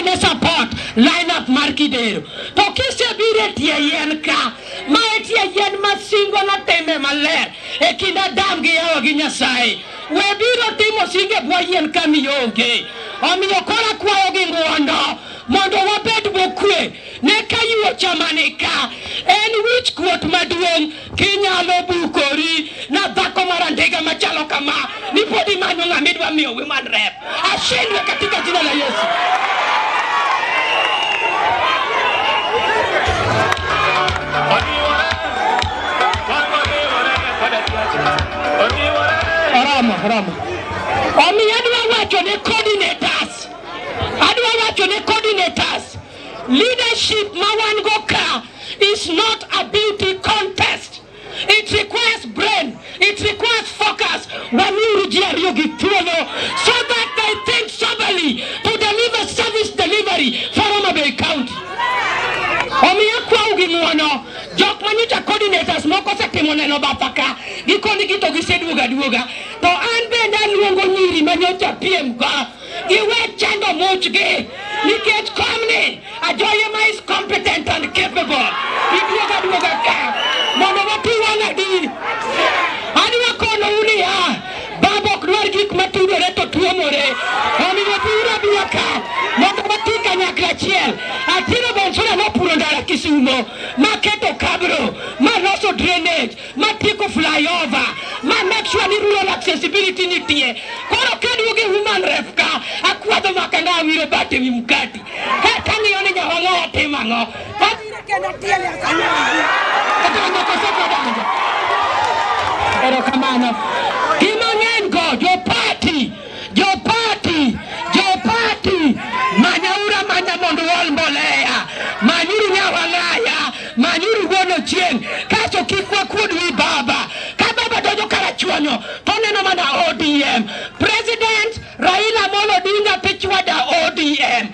ne support line up mar Kidero. To kisebiro e tie yien ka, ma e tie yien ma singo notime maler e kind Adam gi Hawa gi Nyasaye. We biro timo singo e bwo yien ka mionge. Omiyo koro akwayo gi ng'wono mondo wabed mokwe ne ka yie ochamani ka en wich kuot maduong' Kinyalo bukori na dhako mara ndiga machalo kama, ni podi manyo ng'ama idwa miyo women rep. Ashindwe katika jina la Yesu. Rama, Rama. Omiyo adwa wacho ne coordinators. Adwa wacho ne coordinators. Leadership ma wan go ka is not a beauty contest. It requires brain. It requires focus. Wamiuru ji ariyo gi thuolo so that they think soberly to deliver service delivery for Homa Bay County. Omiyo akwau gi ng'wono jok manyocha coordinators moko osetimo neno batha ka gikoni gito giseduoga duoga to an bende aluongo nyiri manyocha piem ka Giwek chando muchgi nikech komni Ajoyema is competent and capable. Iduoga duoga ka mondo wati wang' adi. Adwa kono unia baba ok dwar gik matudore to tuomore. Omiyo biuru abia ka mondo wati kanyakla achiel. Atiro Bonsura nopuro ndara Kisumo maketo kabro maloso drainage. ma tieko flyover ma make sure ni rural accessibility nitie koro kaduoge human ref ka akwadho makanga awiro bat ewi mkati kata ng'iyo ni nyawang'a watim ang'o erokamano Jopati, jopati, manyaura manya mondo uol mbolea, manyuru nyawalaya, manyuru wuon ochieng', kacho kik wakuod wi baba. Ka baba donjo karachuonyo, to oneno mana ODM. President Raila Amolo Odinga pichwada ODM.